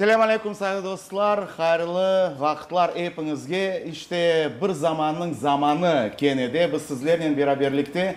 Selâm aleyküm saylı dostlar, hayırlı vaqıtlar epiñizge. İşte, bir zamannıñ zamanı kene de biz sizlernen beraberlikte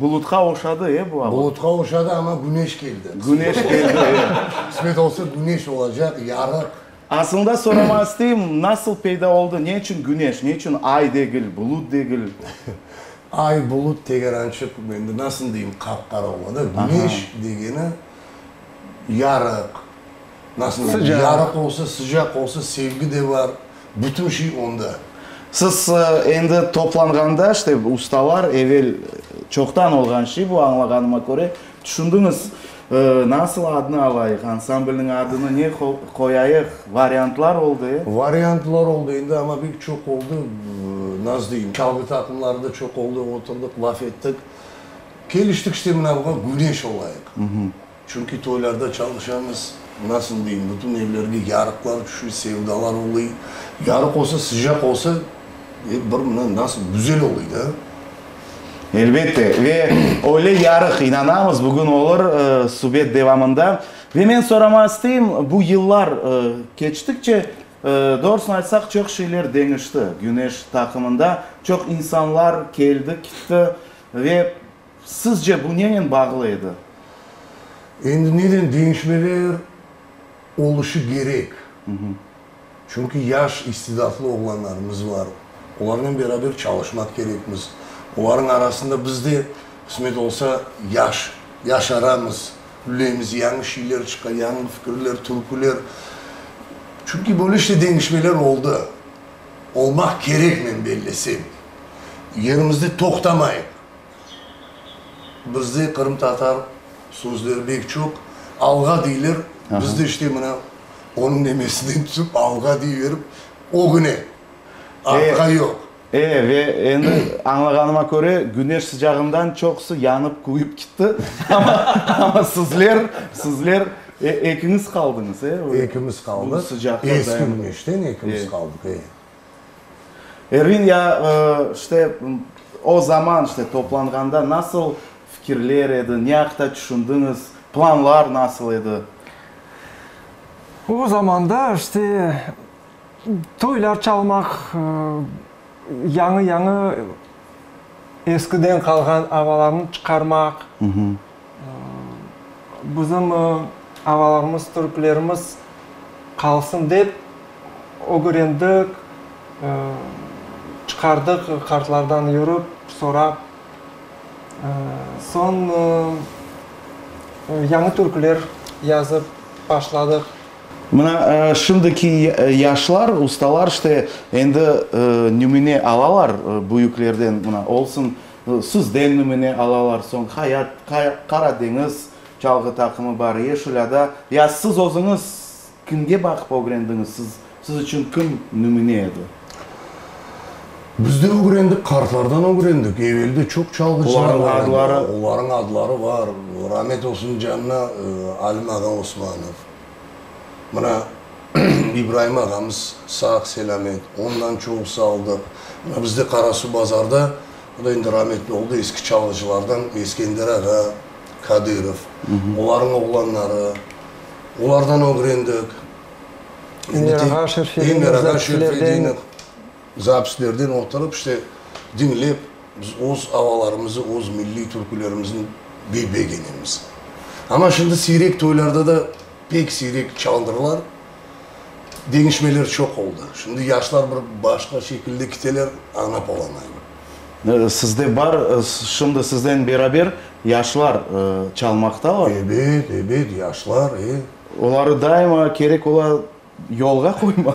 Bulutqa oşadı, e, bu ava. Bulutqa oşadı, amma güneş keldi. Güneş keldi, e. Qısmet olsa, güneş olacaq, yarıq. Asılında soramağa isteyim, nasıl peyda oldı, ne içün güneş, ne içün ay degil, bulut degil? Ay, bulut tegerançıq, endi nasıl deyim, qap-qara ola da. Güneş degeni yarıq, nasıl deyim, yarıq olsa, sıcaq olsa, sevgi de bar. Bütün şey onda. Siz endi toplanğanda, işte, ustalar, evel çoqtan olğan şey bu, añlağanıma köre, tüşündiñiz, nasıl adnı alayıq, ansamblniñ adını ne qoyayıq, variantlar oldı, e? Variantlar oldı, endi amma pek çoq oldı, nasıl deyim, çalğı taqımları da çoq oldı, oturdıq, laf ettik, keliştik, işte, mına buña Güneş olayıq. Çünki toylarda çalışamız, nasıl deyim, bütün evlerge yarıqlar tüşü, sevdalar olıy. Yarıq olsa, sıcaq olsa, e, bir mına nasıl güzel olıy da. Elbette, ve öyle yarıq, inanamız, bugün olur subet devamında. Ve men sorama isteyim, bu yıllar keçtikçe, doğrusını aytsaq, çoq şeyler deñişti Güneş taqımında, çoq insanlar keldi, kitti ve, Sizce bu nenen bağlı edi? Endi neden deñişmeler oluşu kerek? Çünki yaş istidatlı oğlanlarımız bar, olarnen beraber çalışmaq kerekmiz. Olarnıñ arasında biz de, qısmet olsa, yaş, yaşaramız, ülemiz, yañı şeyler çıqa, yañı fikirler, türküler. Çünki böyle işte deñişmeler oldı, olmaq kerek, men bellesem. Yerimizde toqtamayıq. Bizde qırımtatar sözleri bek çoq. Alğa deyler, bizde işte mına onıñ nemesinden tüsip alğa deyiverip, ögüne, artqa yoq. E, ve endi añlağanıma köre, güneş sıcağından çoqusı yanıp, kuvip kitti, amma, amma sizler, sizler ekiñiz qaldıñız, e? Ekimiz qaldıq, eski güneşten ekimiz qaldıq, e. Ervin, ya, işte, o zaman, işte, toplanğanda nasıl fikirler edi, ne aqta tüşündiñiz, planlar nasıl edi? O zamanda, işte, toylar çalmaq, yañı-yañı eskiden qalğan avalarnı çıqarmaq. Bizim ağalarımız, türklerimiz qalsın dep, ögrendik, çıqardıq qartlardan yürip, sorap. Soñ yañı türküler yazıp başladıq. Mına, şimdiki yaşlar, ustalar işte endi nümüne alalar büyüklerden, mına, olsun. Sizden nümüne alalar soñ, Hayat, Qara deñiz, Çalğı taqımı bar, Yeşil ada, ya siz özüñiz kimge baqıp ögrendiñiz, siz, siz içün kim nümüne edi? Biz de ögrendik, qartlardan ögrendik, evelde çoq çalğıcılar bar edi. Olarıñ adları? Olarıñ adları bar, ramet olsun canına, Alim ağa Osmanov. Mına, İbraim ağamız sağ-selâmet, ondan çoqusı aldıq. Mına, bizde Qarasuvbazarda, o da endi rametli oldı, eski çalğıcılardan Eskender ağa, Kadırov, olarnıñ oğlanları, olardan ögrendik. Endi tek, Emer ağa, Şerfedinov, Zakilerden. Zapislerden oturıp, işte, diñlep, biz öz avalarımızı, öz milliy türkülerimizni bey begenemiz. Amma şimdi siyrek toylarda da pek siyrek çalındırlar. Deñişmeler çoq oldı. Şimdi yaşlar bir başqa şekilde kiteler, añlap olamayım. Sizde bar, şimdi sizden beraber yaşlar çalmaqtalar? Ebet, ebet, yaşlar, e. Oları daima kerek ola. Yolğa qoyma.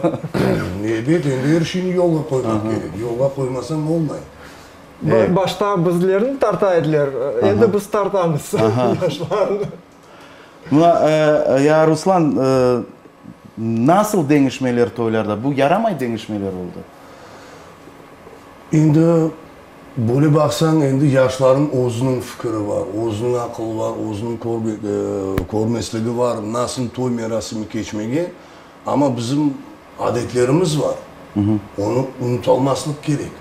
Ebet, endi er şeyni yolğa qoymaq kerek. Yolğa qoymasañ olmay. Başta bizlerni tarta ediler, endi biz tartamız yaşlarnı. Mına, ya Ruslan, nasıl deñişmeler toylarda? Bu yaramay deñişmeler oldı. Endi Böyle baqsañ, endi yaşlarnıñ özüniñ fikiri bar, özüniñ aqılı bar, özüniñ körmesligi bar, nasıl toy merasimi keçmege, amma bizim adetlerimiz bar, onı unutalmaslıq kerek.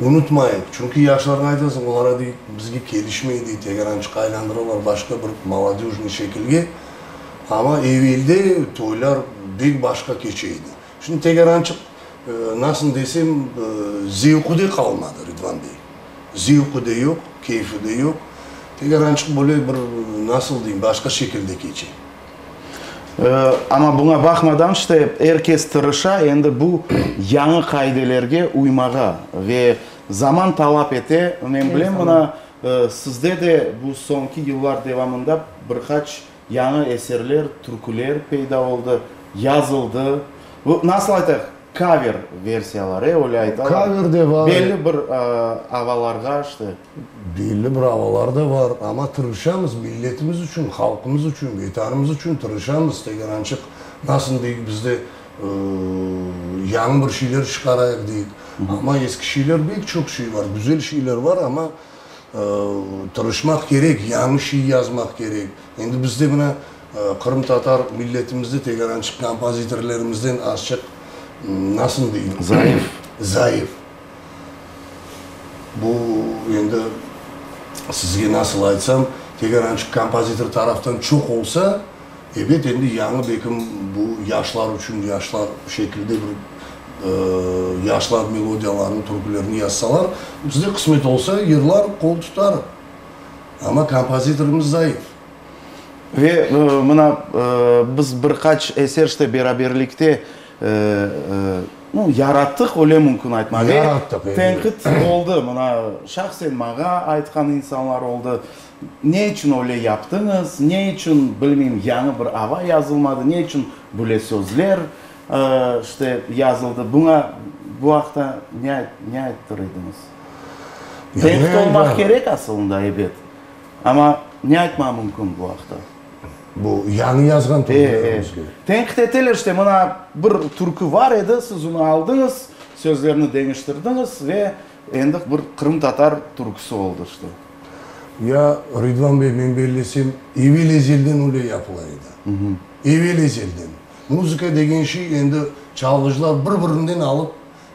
Unutmayıq, çünki yaşlarğa aytasıñ, olara dey, bizge kelişmey dey, tegerançıqqa aylandıralar, başqa bir molodöjnıy şekilge, amma evelde toylar bek başqa keçe edi. Şimdi Tegerançıq, nasıl desem, zevqı de qalmadı, Ridvan bey. Zevqı de yoq, keyfi de yoq. Tegerançıq böyle bir, nasıl deyim, başqa şekilde keçe. Amma buña baqmadan, işte, er kes tırışa endi bu yañı qaidelerge uymağa. Ve zaman talap ete. Men bilem, mına, sizde de bu soñki yıllar devamında bir qaç, Yañı eserler, türküler peyda oldı, yazıldı. Bu, nasıl aytaq, kaver versiyalar, e, öyle aytalar. Kaver de var. Belli bir avalarğa, işte. Belli bir avalar da var. Amma tırışamız, milletimiz içün, halqımız içün, Vetanımız içün tırışamız. Tegerançıq, nasıl deyik, bizde yañı bir şeyler çıqarayıq, deyik. Amma eski şeyler, bek çoq şey var, güzel şeyler var, amma. Tırışmaq kerek, yañı şiir yazmaq kerek. Endi bizde mına qırımtatar milletimizde tegerançı kompozitorlarımızdan azçıq, nasıl deyim? Zayıf. Zayıf. Bu endi sizge nasıl aytsam, tegerançı kompozitor taraftan çoq olsa, Ebet, endi yañı bekim bu yaşlar içün yaşlar şekilde bir yaşlar melodiyalarını, türkülerni yazsalar, bizge qısmet olsa, yırlarıq, qol tutarıq. Amma kompozitorımız zayıf. Ve mına biz bir qaç eser işte beraberlikte yarattıq, öyle mümkün aytmağa. Yarattıq, elbet. Tenqit oldı, mına şahsen maña aytqan insanlar oldı. Ne içün öyle yaptıñız? Ne içün, bilmeyim, yañı bir ava yazılmadı? Ne içün böyle sözler, işte, yazıldı? Buña, bu aqta ne ne ayttır ediñiz? Tenqit olmaq kerek asılında, ebet. Amma ne aytmağa mümkün bu aqta? Bu yañı yazğan türkülerimizge? E-e. Tenqit eteler, işte, mına bir türkü bar edi, siz onı aldıñız, sözlerini deñiştirdiñiz ve Endi bir qırımtatar türküsi oldı işte. Ya Ridvan bey, men bellesem, evel-ezelden öyle yapıla edi. Evel-ezelden. Muzıka degen şey endi çalğıcılar bir-birinden alıp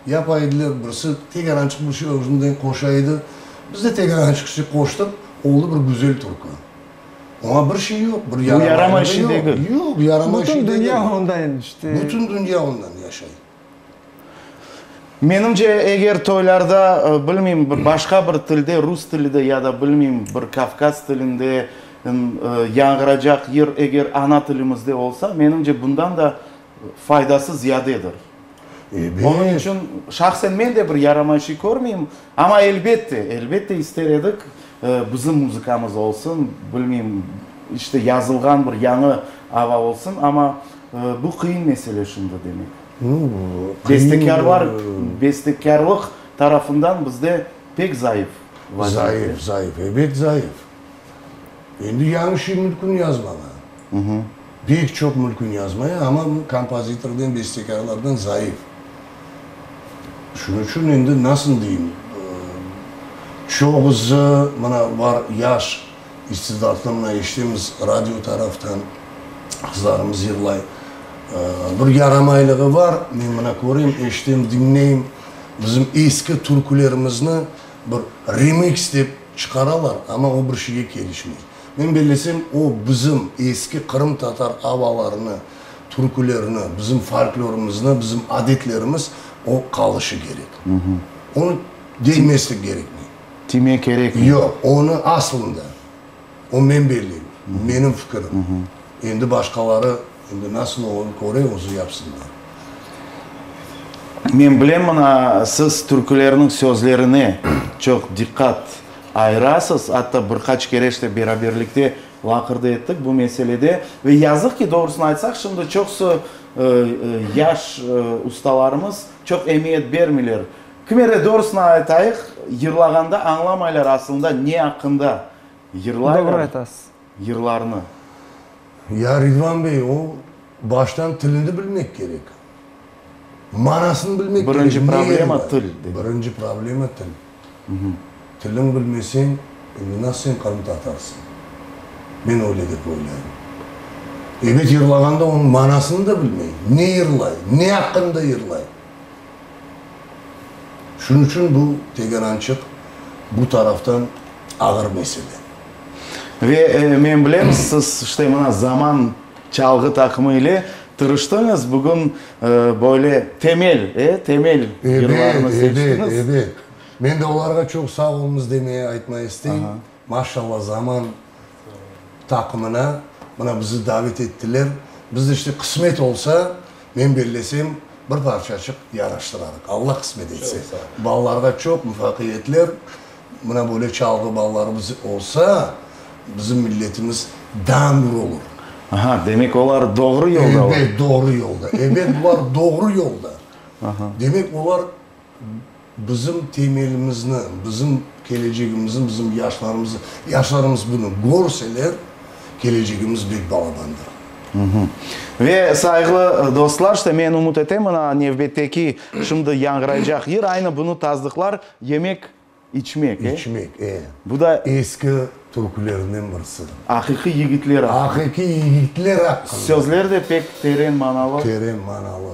yapa ediler, birisi tek arançıq bir şey özünden qoşa edi. Biz de tek arançıq şey qoştıq, oldı bir güzel türkü. Oña bir şey yoq, bir yaramayanı da yoq. Yoq, yaramay şey degil. Bütün dünya ondan işte. Bütün dünya ondan yaşay. Menimce, eger toylarda, bilmeyim, bir başqa bir tilde, rus tilide ya da, bilmeyim, bir Kavkaz tilinde yañğıracaq yır eger ana tilimizde olsa, menimce, bundan da faydası ziyadedir. Onıñ içün şahsen men de bir yaramayışı körmeyim. Amma, elbette, elbette ister edik, bizim muzıkamız olsun, bilmeyim, işte, yazılğan bir yañı ava olsun. Amma. Bu qıyın mesele şimdi demek. Nu, qıyın. Bestekârlıq tarafından bizde pek zayıf vazife. Zayıf, zayıf, ebet zayıf. Endi yañı şey mülkün yazmağa. Pek çoq mülkün yazmaya, amma kompozitordan, bestekârlardan zayıf. Şunıñ içün endi nasıl deyim, çoğusı mına var yaş. İstidatlı mına eşitemiz radio taraftan, qızlarımız yırlay. Bir yaramaylığı bar, men mına köreyim, eşitem, diñleyim, bizim eski türkülerimizni bir remix dep çıqaralar, amma o bir şeyge kelişmey. Men bellesem, o bizim eski qırımtatar avalarını, türkülerini, bizim folklorımıznı, bizim adetlerimiz o qalışı kerek. Onı deymeslik kerekmey. Tiymek kerekmi? Yoq, onı aslında, o men belleyim, menim fikirim. Endi başqaları, endi nasıl oñı köre, özü yapsınlar. Men bilem, mına, siz türkülerniñ sözlerine çoq diqqat ayırasız, atta bir qaç kere işte beraberlikte laqırdı ettik bu meselede. Ve yazıq ki, doğrusını aytsaq, şimdi çoqusı yaş ustalarımız çoq emiyet bermeyler Kimere, doğrusını aytayıq, yırlağanda añlamaylar asılında ne aqqında yırlaylar. Doğru aytasız. Yırlarnı. Ya Ridvan bey, o baştan tilini bilmek kerek. Manasını bilmek kerek. Birinci problema til. Birinci problema til. Tilin bilmeseñ, şimdi nasıl sen qırım tatarsıñ? Men öyle dep oylayım. Ebet yırlağanda onıñ manasını da bilmey. Ne yırlay? Ne aqqında yırlay? Şunıñ içün bu tegerançıq bu taraftan ağır mesele. Ve men bilem, siz işte mına Zaman çalğı taqımı ile tırıştıñız, bugün böyle temel, e, temel yırlarnı seçtiñiz. Ebet, ebet, ebet. Men de olarğa çoq sağ oluñız demeye, aytmaya isteyim. Maşalla Zaman taqımına mına bizi davet ettiler. Biz de işte qısmet olsa, men bellesem bir parçaçıq yaraştırarıq. Alla qısmet etse. Balalarğa çoq muvafaqiyetler. Mına böyle çalğı balalarımız olsa, bizim milletimiz dangr olur. Aha, demek olar doğru yoldalar. Elbet doğru yolda. Elbet bular doğru yolda. Demek olar. Bizim temelimizni, bizim kelecegimizni, bizim yaşlarımızı, yaşlarımız bunı körseler, kelecegimiz bek balabandır. Ve, sayğılı dostlar, işte men ümüt etem, ına nevbetteki, şimdi yañğıraycaq yır aynı bunı tasdıqlar, yemek, içmek, e? İçmek, e. Bu da. Eski türkülerden birisi. Aqiqiy yigitler aqqında. Aqiqiy yigitler aqqında. Sözler de pek teren manalı. Teren manalı.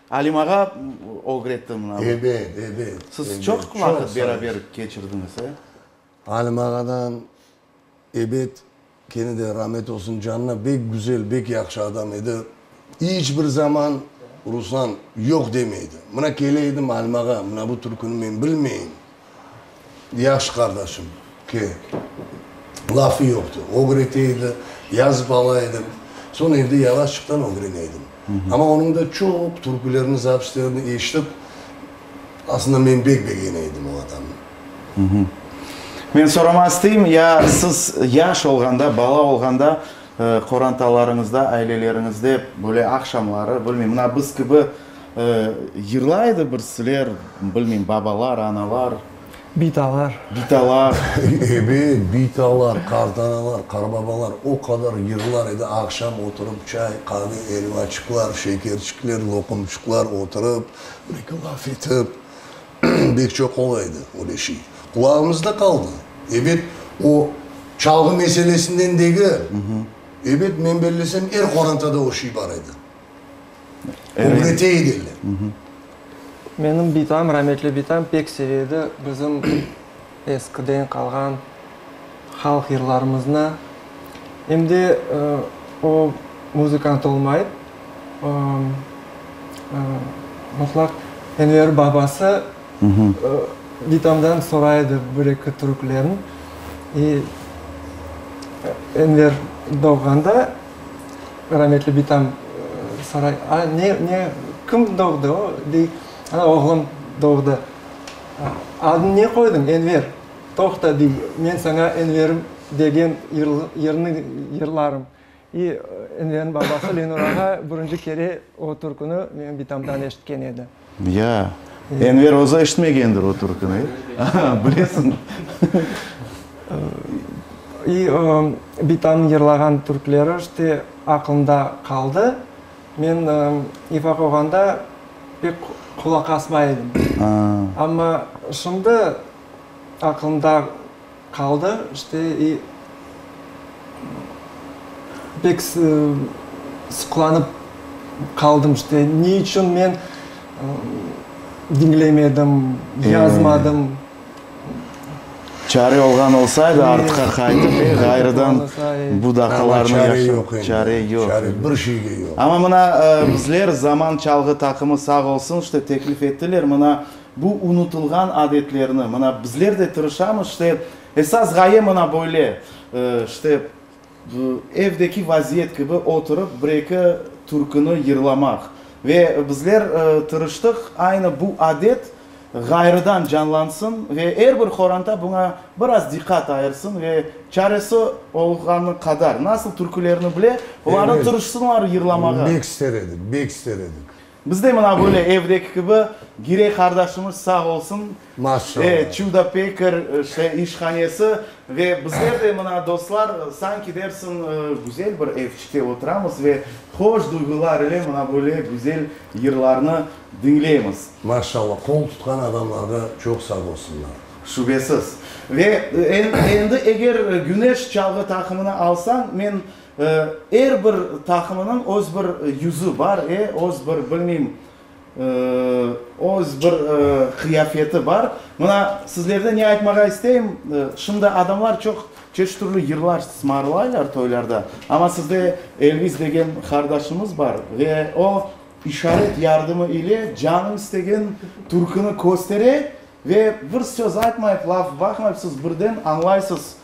Alimağa ögretti mına. Ebet, ebet. Siz çoq vaqıt beraber keçirdiñiz, e? Alimağadan, ebet, kene de ramet olsun canına, bek güzel, bek yahşı adam edi. İç bir zaman Ruslan yoq demeydi. Mına kele edim Alimağa, mına bu türküni men bilmeyim. Yahşı qardaşım, ki, lafı yoqtı. Ögrete edi, yazıp ala edim. Soñ evde yalaşıqtan ögrene edim. Amma onıñ da çoq türkülerini, zapislerini eşitip, aslında men bek begeney edim o adamnı. Men soramaq isteyim, ya siz yaş olğanda, bala olğanda qorantalarıñızda, aileleriñizde böyle aqşamları, bilmeyim, mına biz kibi, Yırlaydı bir siler, bilmeyim, babalar, analar. Bitalar. Bitalar. Ebet, bitalar, qartanalar, qarbabalar o qadar yırlar edi, aqşam oturıp çay, qave, elvaçıqlar, şekerçikler, loqumçıqlar oturıp, bir eki laf etip. Bek çoq ola edi öyle şey. Qulağımızda qaldı. Ebet, o çalğı meselesinden degil. Ebet, men bellesem, er qorantada o şey bar edi. Ögrete ediler. Menim bitam, rametli bitam pek seve edi bizim eskiden qalğan halq yırlarımıznı. Em de o muzıkant olmayıp, mutlaq Enver babası bitamdan soray edi bir-eki türkülerin. Enver doğğanda Rametli bitam soray, A, ne, ne, kim doğdı? O, dey, Ana, oğlum doğdı. Adını ne qoydıñ? Enver. Toqta, dey, men saña Enverim degen yırnı yırlarım. İ, Enverniñ babası Lenur ağa birinci kere o türkünü menim bitamdan eşitken edi. Ya, Enver özü eşitmegendir o türküni, bilesiñmi? İ, Bitanıñ yırlağan türküleri işte aqılımda qaldı. Men İfaq oğanda pek qulaq asmay edim. Amma şimdi aqılımda Qaldı, işte, i, pek sıqlanıp qaldım, işte, ne içün men diñlemedim, yazmadım. Çare olğan olsaydı, artıqa qaytıp, e, ğayrıdan bu daqalarnı yaşa-. Amma çare yoq endi. Çare yoq. Çare bir şeyge yoq. Amma mına, bizler, Zaman çalğı taqımı sağ olsun, işte, teklif ettiler, mına, Bu unutılğan adetlerni, mına, bizler de tırışamız, işte, esas ğaye mına böyle, işte, evdeki vaziyet kibi oturıp, bir-eki türküni yırlamaq. Ve bizler tırıştıq, aynı bu adet ğayrıdan canlansın ve er bir qoranta buña biraz diqqat ayırsın ve çaresi olğanı qadar, nasıl türkülerni bile, olarnı tırışsınlar yırlamağa. Bek ister edik, bek ister edik. Biz de mına böyle evdeki kibi, Girey qardaşımız sağ olsun, e, çuda pekar, işte, işhanesi ve bizler de mına, dostlar, sanki dersiñ, güzel bir evçikte oturamız ve hoş duyğular ile mına böyle güzel yırlarnı diñleymiz. Maşallah, qol tutqan adamlarğa çoq sağ olsunlar. Şübesiz. Ve endi eger Güneş çalğı taqımını alsañ, men Er bir taqımınıñ öz bir yüzü bar, öz bir, bilmeyim, öz bir qıyafeti bar. Mına, sizlerde ne aytmağa isteyim, şimdi adamlar çoq çeşit türlü yırlar sımarlaylar toylarda, amma sizde Elvis degen qardaşımız bar ve o, işaret yardımı ile canı istegen türküni köstere ve bir söz aytmayıp, laf baqmayıp, siz birden añlaysız.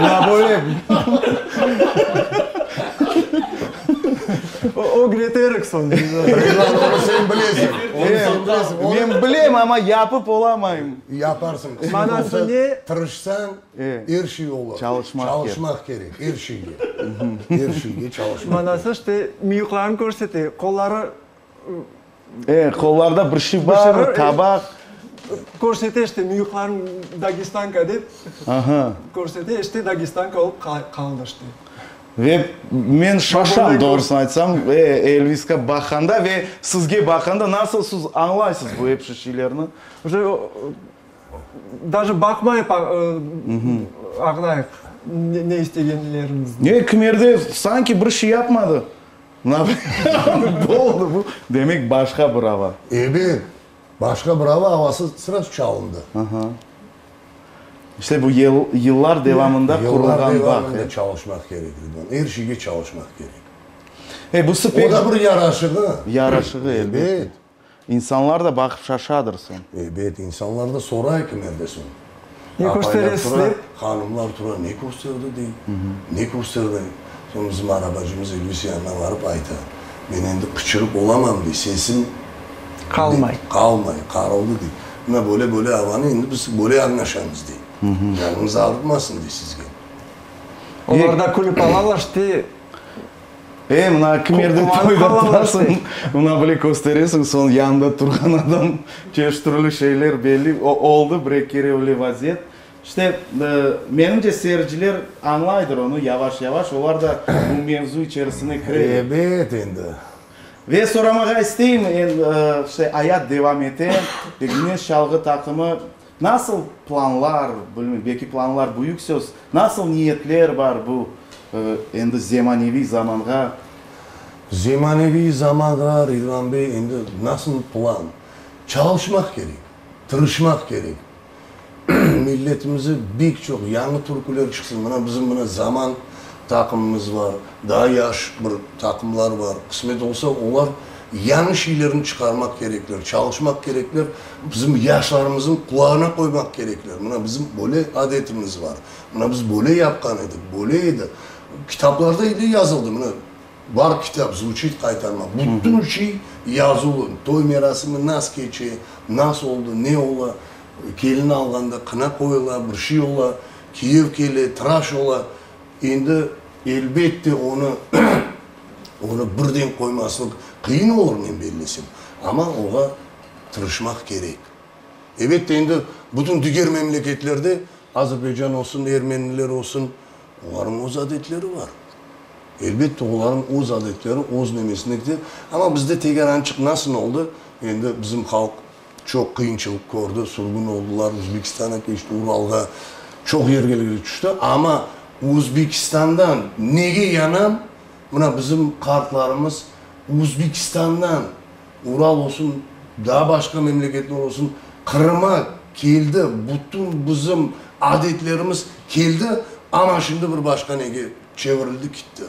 Na böyle? Ögreterik soñ. Reklam oñı sen bilesiñ. Men bilem, amma yapıp olamayım. Yaparsıñ. Manası ne? Tırışsañ, er şey olur. Çalışmaq kerek. Er şeyge. Er şeyge çalışmaq kerek. Manası, işte, müyüklerini körsete, qolları. E, qollarda bir şif bar, tabaq. Körsete işte, müyüqlarım Dagestanka dep, körsete, işte Dagestanka olıp qaldı işte. Ve men şaşam, doğrusını aytsam, Elviske baqanda ve sizge baqanda, nasıl siz añlaysız bu epşi şeylerni? Даже baqmayıp añlayıq ne istegenlerimizni. Kmerde sanki bir şey yapmadı. Napoleon doğdu, bu, demek, başqa bir ava. Ebet, başqa bir ava avası srazu çalındı. Aha. İşte bu yıl, yıllar devamında qurulğan bağ. Yıllar devamında çalışmaq kerek edi buna, er şeyge çalışmaq kerek. E, bu sıp. O da bir yaraşığı. Yaraşığı, elbette. Ebet. İnsanlar da baqıp şaşadır soñ. Ebet, insanlar da soray ki mende soñ. Ne kösteresiz dep. Apaylar tura, hanımlar tura, ne kösterdi dey, ne kösterdi. Soñ bizim arabacımız İdris yanına barıp ayta, men endi qıçırıp olamam dey, sesim. Qalmay. Qalmay, qarıldı dey. Mına böyle böyle avanı endi biz böyle añlaşamız dey. Canıñız ağrıtmasın dey sizge. Olar da külip alalar işte. E, mına kim erde toyda turasıñ, mına bile kösteresiñ, soñ yanında turğan adam çeşit türlü şeyler belli, o, oldı bir-eki kere öyle vaziyet. İşte, menimce, seyirciler añlaydır onı yavaş-yavaş, olar da bu mevzu içerisine kiredi. Ebet, endi. Ve soramağa isteyim, işte, ayat devam ete ve Güneş çalğı taqımı Nasıl planlar, bilmeyim, belki planlar büyük söz, nasıl niyetler bar bu endi zemaneviy zamanğa? Zemaneviy zamanğa, Ridvan bey, endi nasıl plan? Çalışmaq kerek, tırışmaq kerek. Milletimize bek çoq yañı türküler çıksın. Mına bizim mına Zaman taqımımız bar, daa yaş bir taqımlar bar. Qısmet olsa, olar yañı şeylerni çıqarmaq kerekler, çalışmaq kerekler. Bizim yaşlarımıznı qulağına qoymaq kerekler, mına bizim böyle adetimiz bar, mına biz böyle yapqan edik, böyle edi, kitaplarda ile yazıldı, mına bar kitap, zvuçit qaytarmaq, bütün şey yazılı, toy merasimi nas keçe, nas oldı, ne ola, kelin alğanda qına qoyula, bir şey ola, kiyev kele, traş ola, endi elbette onı onı birden qoymaslıq qıyın olur, men bellesem, amma oğa. tırışmaq kerek. Ebette, endi bütün diger memleketlerde, Azerbaycan olsun, ermeniler olsun, olarnıñ öz adetleri bar. Elbette, olarnıñ öz adetleri, öz nemesine kite. Amma bizde tegerançıq nasıl oldı, endi bizim halq çoq qıyınçılıq kördi, sürgün oldılar, Özbekistana keçti, Uralğa, çoq yergelge tüşti. Amma Özbekistandan nege yanam, mına bizim qartlarımız Özbekistandan Ural olsun, daa başqa memleketler olsun, Qırıma keldi, bütün bizim adetlerimiz keldi, amma şimdi bir başqa nege çevirildi kitti.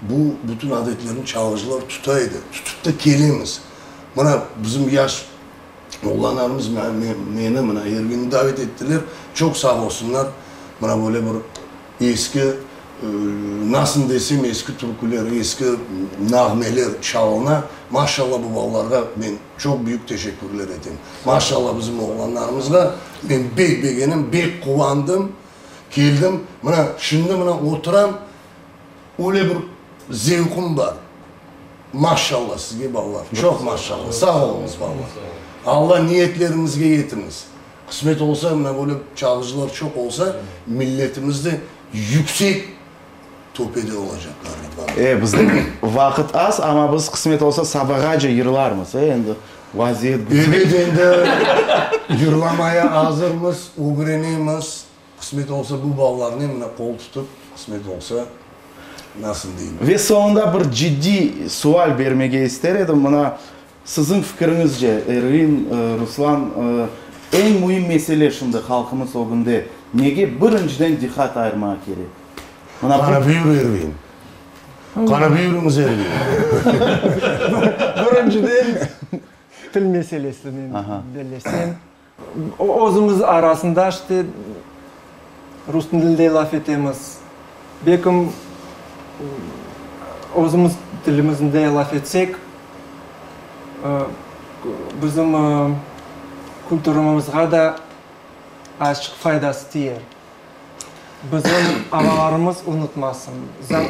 Bu bütün adetlerni çalğıcılar tuta edi, tutıp da kelemiz. Mına bizim yaş oğlanlarımız, meni, mına Ervinni davet ettiler, çoq sağ olsunlar, mına böyle bir Eski, nasıl desem, eski türküler, eski nağmeler çalına. Maşallah, bu balalarğa men çoq büyük teşekkürler etem. Maşallah, bizim oğlanlarımızğa men bek begenim, bek quvandım, keldim. Mına, şimdi mına oturam, öyle bir zevqım bar. Maşallah sizge, balalar, çoq maşallah. Sağ oluñız, balalar. Alla niyetleriñizge yetiñiz. Qısmet olsa, mına böyle çalğıcılar çoq olsa, milletimiz de yüksek töpede olacaqlar, Rıdvan. E, bizniñ vaqıt az, amma biz, qısmet olsa, sabağace yırlarmız, e, endi vaziyet bu. Ebet, endi yırlamaya azırmız, ögrenemiz. Qısmet olsa, bu ballarnen mına qol tutıp, qısmet olsa, nasıl deyim. Ve soñunda bir ciddiy sual bermege ister edim, mına Siziñ fikiriñizce, Ervin, Ruslan, eñ müim mesele şimdi halqımız ögünde nege birinciden diqqat ayırmağa kerek? Mına bu. Qarabüyür Ervin. Qarabüyürüñiz Ervin. Birinciden, til meselesini bellesem. Özümiz arasında işte rus tilinde laf etemiz. Belkim özümiz tilimizde laf etsek, bizim kültürümizğa da azıcık faydası tiyer. Bizim ağalarımız unutmasın.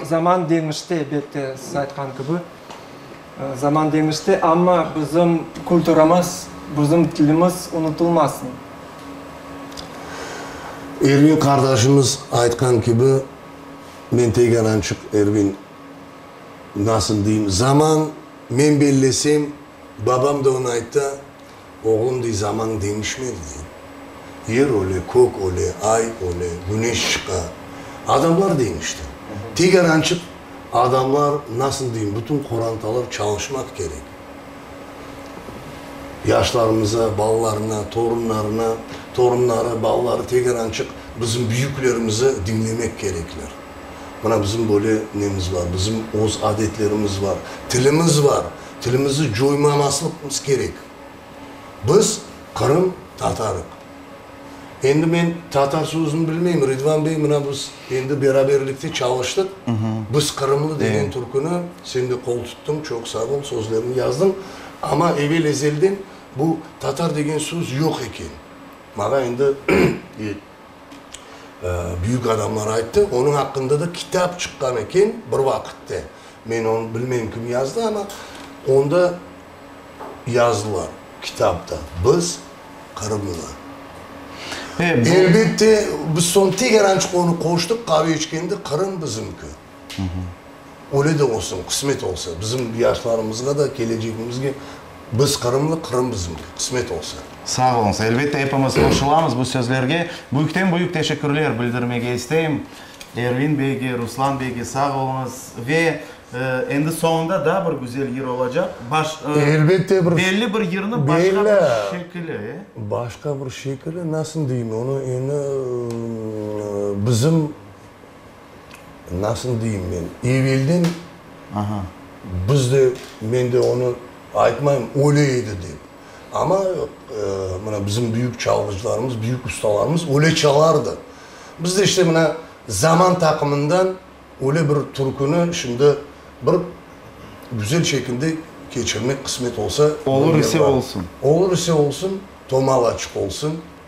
Zaman deñişti, elbette, siz aytqan kibi, zaman deñişti, amma bizim kulturamız, bizim tilimiz unutılmasın. Ervin qardaşımız aytqan kibi, men Teyganançıq Ervin, nasıl deyim, zaman, men bellesem, babam da onı aytta, Oğlum dey, zaman deñişmez dey. Yer öle, kök öle, ay öle, güneş çıqa. Adamlar deñişti. Teker ançık adamlar, nasıl deyim, bütün qorantalar çalışmaq kerek. Yaşlarımıza, balalarına, torunlarına, torunları, balaları teker ançık bizim büyüklerimizi diñlemek kerekler. Mına bizim böyle nemiz bar, bizim öz adetlerimiz bar, tilimiz bar. Tilimizni coymamaslıqmız kerek. Biz Qırım tatarıq. Endi men tatar sözüni bilmeyim, Ridvan bey, mına biz endi beraberlikte çalıştıq. Biz Qırımlı degen türküni sen de qol tuttıñ, çoq sağ ol, sözlerini yazdıñ. Amma evel ezelden bu tatar degen söz yoq eken. Mağa endi büyük adamlar ayttı, onıñ aqqında da kitap çıqqan eken bir vaqıtte, men onı bilmeyim kim yazdı, amma onda yazdılar kitapta, biz qırımlılar. Elbette, biz soñ tegerançık onı qoştıq, qave içkende Qırım bizimki. Öyle de olsun, qısmet olsa, bizim yaşlarımızğa da, kelecegimizge biz qırımlı, Qırım bizimki, qısmet olsa. Sağ oluñız. Elbette, epimiz qoşulamız bu sözlerge. Büyükten büyük teşekkürler bildirmege isteyim Ervin beyge, Ruslan beyge. Sağ oluñız. Ve endi soñunda daa bir güzel yır olacaq. Baş, Elbette bir, belli bir yırnı başqa bir şekili, e? Başqa bir şekili, nasıl deyim, onı endi bizim, Nasıl deyim men, evelden biz de, men de onı aytmayım, öyle edi dep. Amma mına bizim büyük çalğıcılarımız, büyük ustalarımız öyle çalardı. Biz de işte mına zaman taqımından öyle bir türküni şimdi bir güzel şekilde keçirmek qısmet olsa. Olur ise olsun. Olur ise olsun, tomağ açıq olsun.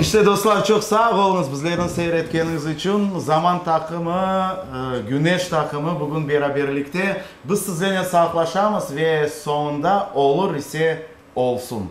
İşte, dostlar, çoq sağ oluñız bizlerni seyir etkeniñiz içün. Zaman taqımı, Güneş taqımı bugün beraberlikte. Biz sizlene sağlaşamız ve soñunda olur ise olsun.